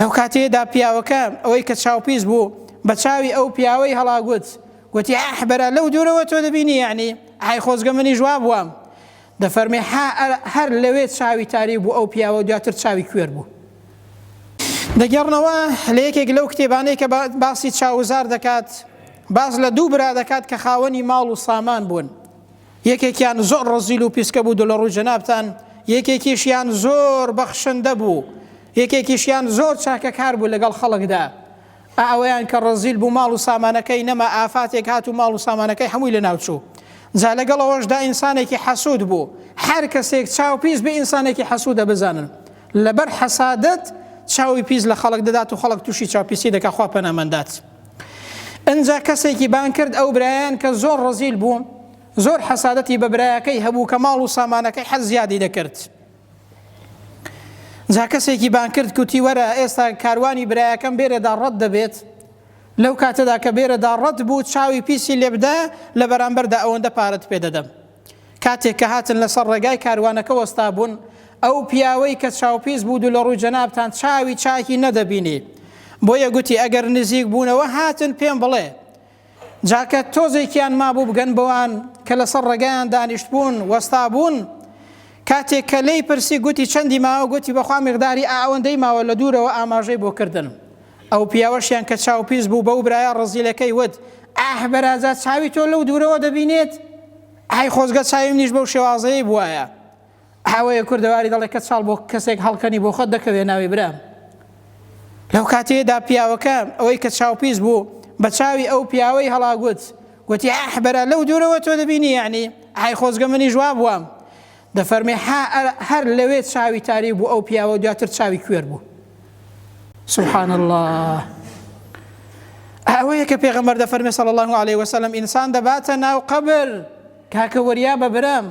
لەو کاتەیەدا پیاوەکە ئەوەی کە چاوپیس بوو بە چاوی ئەو پیاوەی هەڵاگوت گوتی ئەح بەرە لەو دوورەوە تۆ دەبینی یعنی ئای خۆزگە منی ژوا بووم دەفەرمی هەر لەوێ چاوی تاری بوو ئەو پیاوە دواتر چاوی کوێر بوو دەگەڕنەوە لە یەکێک لەو کتێبانەی کە باسی چاوزار دەکات باز لە دوو برا دەکات کە خاوەنی ماڵ و سامان بوون یەکێکیان زۆر ڕەزیل و پیسکە بوو دلە ڕووی جەنابتان، یەکێکیشیان زۆر بەخشندە بوو، یەکێکیشیان زۆر چاکەکار بوو لەگەڵ خەڵکدا. ئا ئەویان کە ڕەزیل بوو ماڵ و سامانەکەی نەما، ئافاتێک هات و ماڵ و سامانەکەی هەمووی لەناوچوو. جا لەگەڵ ئەوەشدا ئینسانێکی حەسوود بوو. هەر کەسێک چاو پیس بێ ئینسانێکی حەسوودە بزانن لەبەر حەسادەت چاوی پیس لە خەڵک دەدات و خەڵک تووشی چاوپیسی دەکات خوا پەناماندات. ئنجا کەسێکی بان کرد ئەو برایان کە زۆر ڕزیل بوو زۆر حەسادەتی بە برایەکەی هەبوو کە ماڵ و سامانەکەی حەز زیادی دەکرد جا کەسێکی بان کرد کوتی وەرە ئێستا کاروانی برایەکەم بێرەدا ڕەت دەبێت لەو کاتەدا کە بێرەدا ڕەت بوو چاوی پیسی لێبدا لە بەرامبەردا ئەوەندە پارەت پێدەدەم کاتێک کە هاتن لەسەر ڕێگای کاروانەکە وەستابوون، ئەو پیاوەی کە چاوپیس بوو دوولەڕووی جەنابتان چاوی چاکی نەدەبینی، بۆیە گوتی ئەگەر نزیک بوونەوە هاتن پێم بڵێ، جا کە تۆزێکیان مابوو بگەن بەوان کە لەسەر ڕێگایان دانیشتبوون وەستابوون، کاتێک کە لێی پرسی گوتی چەندی ماوە گوتی بەخوا میقداری ئائەوەندەی ماوە لە دوورەوە ئاماژەی بۆ کردن. ئەو پیاوەشیان کە چاو پیس بوو بەو برایە ڕەزیلەکەی وت، ئاه بەراجا چاوی تۆ لەو دوورەوە دەبینێت؟ ئای خۆزگە چاوی منیش بەو شێوازەیەی بوایە. ئەوەیە کوردەواری دەڵێ کەچاڵ بۆ کەسێک هەڵکەنی بۆ خۆت دەکەوێ ناوی برام. لەو کاتەیەدا پیاوەکە ئەوەی کە چاو پیس بوو بە چاوی ئەو پیاوەی هەڵاگوت، گوتی، ئاه بەرا لەو دوورەوە تۆ دەبینی یەعنی؟ ئای خۆزگە منیش وا بوام. دەفەرمێ حا هەر لەوێ چاوی تاریک بوو ئەو پیاوە دواتر چاوی کوێر بوو سبحان الله ئەوەیە کە پێغەمبەر دەفەرمێ صلی الله عليه وسلم ئینسان دەباتە ناو قبر کاکە وەریا بە برام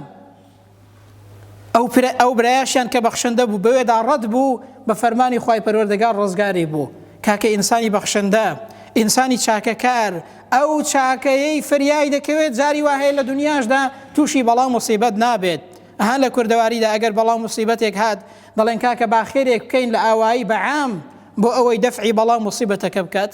ئەو ئەو برایشیان کە بەخشندە بوو بەوێدا ڕەت بوو بە فەرمانی خی پەروەردەگار ڕزگاری بوو کاکە ئینسانی بەخشندە ئینسانی چاکەکار ئەو چاکەیەی فریای دەکەوێت جاری وا هەیە لە دونیاشدا تووشی بەڵا و موسیبەت نابێت ئەها لە کوردەواریدا ئەگەر بەڵا و موسیبەتێک هات دەڵێن کاکە با خێرێک بکەین لە ئاوایی بە عام بۆ ئەوەی دەفعی بەڵا و موسیبەتەکە بکات